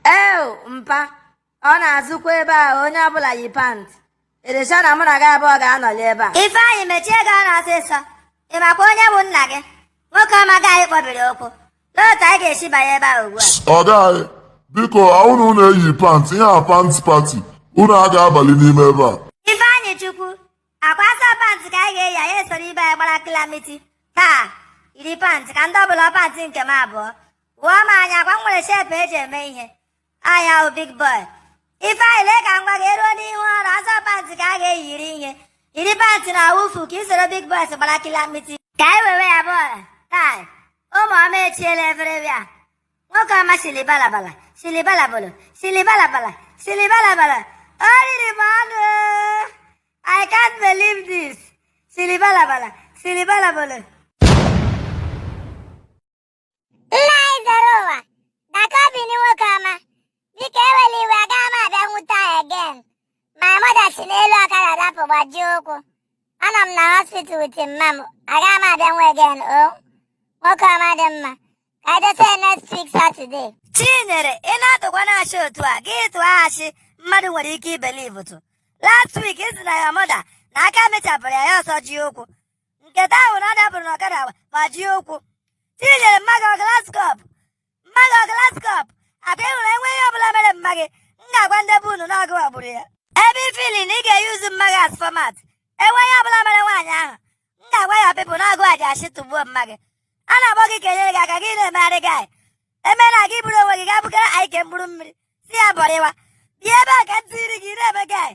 Ew mpa, ọ na-azụkwa ebe a onye ọbụla yi pant. Are you sure na mụ na gị abụọ ga-anọli ebe a. Ifeanyị mechie gị ọnụ ọsịsọ. Ị makwa onye bụ nna gị? Nwoke ọma ka anyị kpọbiri okwu. N'otu anyị ga-esi banye ebe a ugbu a. Ọga anyị, biko ahụna unu eyi pant ihe a pant party unu aga abali n'ime ebe a. Ifeanyịchukwu, akwa asọ pant ka anyị ga-eyi anyị esoro ibe anyị gbara kilamiti. Taa, yiri pant ka ndị ọbụla pant nke m abụọ. Gụọ m anya akwa m nwere shape eji eme ihe. Anyị wụ big boy. Ifeanyị lee ka m gwa gị eruo n'ihu ọrụ asọ pantị ka a ga-eyiri ihe. Yiri pantị na awufu ka isoro big boys gbara kilamiti. Ka anyị wewe ya bọọlụ. Taa. Ụmụ ọma echiela efere bịa. Nwoke ọma sili balabala, sili balabolo, sili balabala, sili balabala. O riri m ọnụ. I can't believe this. Sili balabala, sili balabolo. nna anyị zere ụwa dakọbini nwoke ọma biko ewela iwe agaghị m abịanwu taa again my mother si n'elu ọkada dapụ gbajie ụkwụ anọ m na hospital with mma m agaghị m abịanwu again o nwoke ọma ọ dị mma ka edose next week Saturday chinyere ị na-atụkwanụ ashị otu a gị tụọ ashị mmadụ nwere ike ibelieve tụ last week ị sị na your mother na aka mechapụrụ ya ya asọjie ụkwụ nke taa wụ na ọ dapụrụ na ọkada gbajie ụkwụ chinyere mma gị ọ glass cup mma gị ọ glass cup akwa ị hụrụ enweghị ihe ọbụla mere mma gị m ga-agwa ndị be unu na ọ gị wa gburu ya ebe ị feel na ị ga-eyuzu mma gị as format enweghị ihe ọbụla mere nwaanyị ahụ m ga-agwa your people na ọ gị wa ji ashị tụgbuo mma gị a na-akpọ gị ka enyere gị aka gị na-emegharị gị anyị emere gị bụrụ onwe gị ga-abụgara anyị ke mkpụrụ mmiri si ya bọrịwa bịa ebe a ka ntiri gị na-eme gị anyị